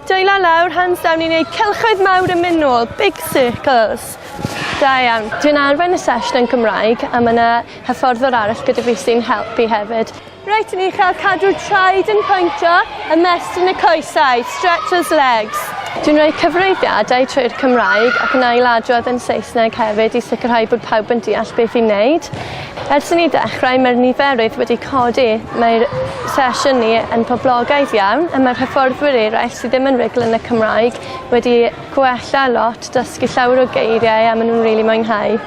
Dwylo lawr, hands down i wneud cylchoedd mawr yn mynd nôl, big circles. Da iawn. Dwi'n arfer y sesiwn yn Gymraeg a mae yna hyfforddwr arall gyda fi sy'n helpu hefyd. Reit, ni'n cael cadw traed yn pwyntio, ymestyn y coesau, stretch those legs. Dwi'n rhoi cyfrifiadau trwy'r Cymraeg ac yn ail-adrodd yn Saesneg hefyd i sicrhau bod pawb yn deall beth i'n wneud. Ers i ni ddechrau mae'r niferoedd wedi codi, mae'r sesiynnu yn poblogaidd iawn a mae'r hyfforddwyr eraill sydd ddim yn rugl yn y Cymraeg wedi gwella lot, dysgu llawer o geiriau a maen nhw'n rili mwynhau.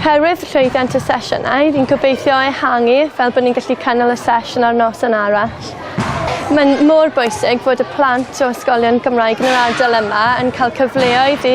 Oherwydd llwyddiant y sesiynau, fi'n gobeithio ehangu fel bod ni'n gallu cynnal y sesiwn ar noson arall. Mae'n mor bwysig fod y plant o ysgolion Gymraeg yn yr ardal yma yn cael cyfleoedd i